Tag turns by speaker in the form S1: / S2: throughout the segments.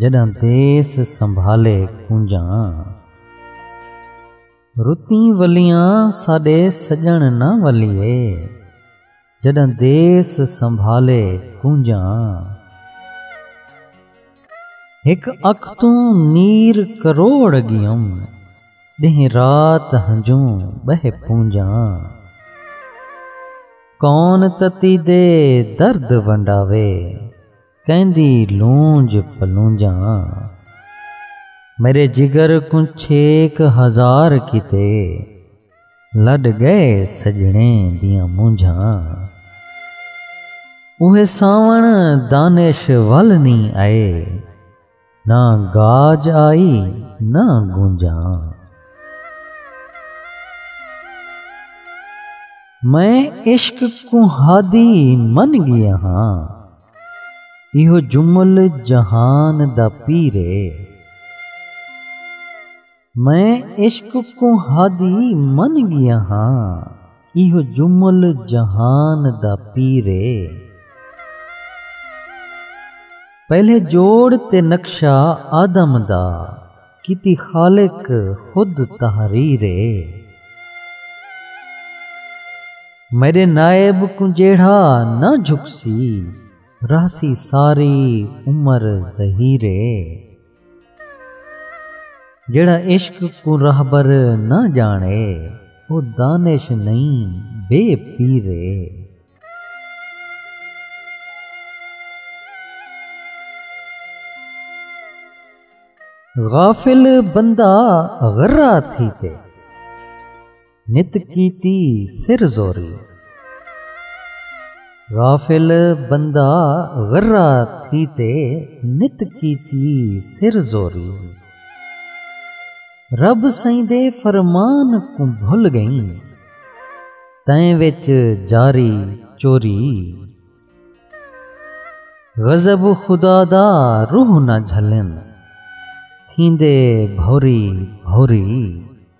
S1: جݙاں دیس سنبھالے کونجاں۔ رتیں ولیاں ساݙے سڄݨ نہ ولیے۔ جݙاں دیس سنبھالے کونجاں۔ ہک اکھ توں نیر کروڑ اڳیم۔ ݙینہہ رات ہنجوں ٻہہ پونجاں۔ کون تتی دے درد ونڈاوے۔ کیندی لونج پلونجاں میݙے جگر کوں چھیک ہزار کیتے لݙ ڳئے سڄݨے دیاں مونجھاں اوہے ساوݨ دانش ول نی آئے۔ نہ گاج آئی نہ گونجاں میں عشق کو ہادی من گیا ہاں ایہو جمل جہان دا پیرے میں عشق کوں ہادی من گیا ہاں ایہو جمل جہان دا پیر اے۔ پہلے جوڑ تے نقشہ آدم دا کیتی خالق خود تحریر اے۔ میڈے نائب کوں جیڑھا نہ جھکسی رہسی ساری عمر زہیر اے۔ جیڑھا عشق کوں رہبر نہ ڄاݨے او دانش نئیں بے پیر ہے۔ غافل بندہ غرہ تھی تے۔ نت کیتی سر زوری غافل بندہ غرہ تھی تے نت کیتی سر زوری رب سئیں دے فرمان کوں بھل گئیں تیں وچ جاری چوری غضب خدا دا روح نہ جھلن تھیندے بھوری بھوری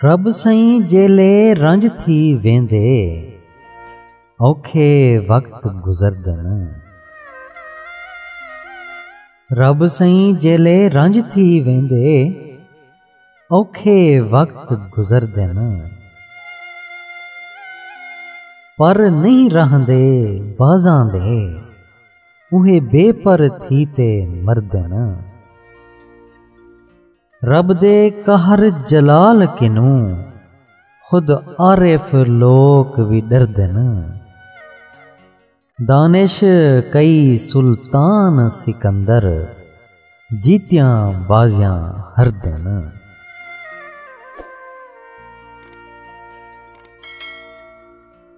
S1: رب سائیں جیلے رنج تھی ویندے اوکھے وقت گزردن رب سائیں جیلے رنج تھی ویندے اوکھے وقت گزردن پر نہیں رہندے بازاں دے اوہے بے پر تھی تے مردن رب دے قہر جلال کنوں خود عارف لوک وی ݙردن۔ دانش کئی سلطان سکندر جیتیاں بازیاں ہردن۔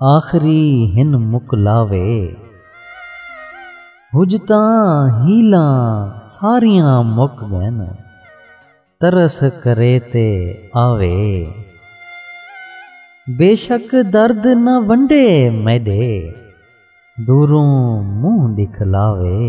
S1: آخری ہن مکلاوے حجتاں حیلاں ساریاں مک ڳئن ترس کرے تے آوے بیشک درد نہ ونڈے میݙے دوروں منہ ݙکھلاوے۔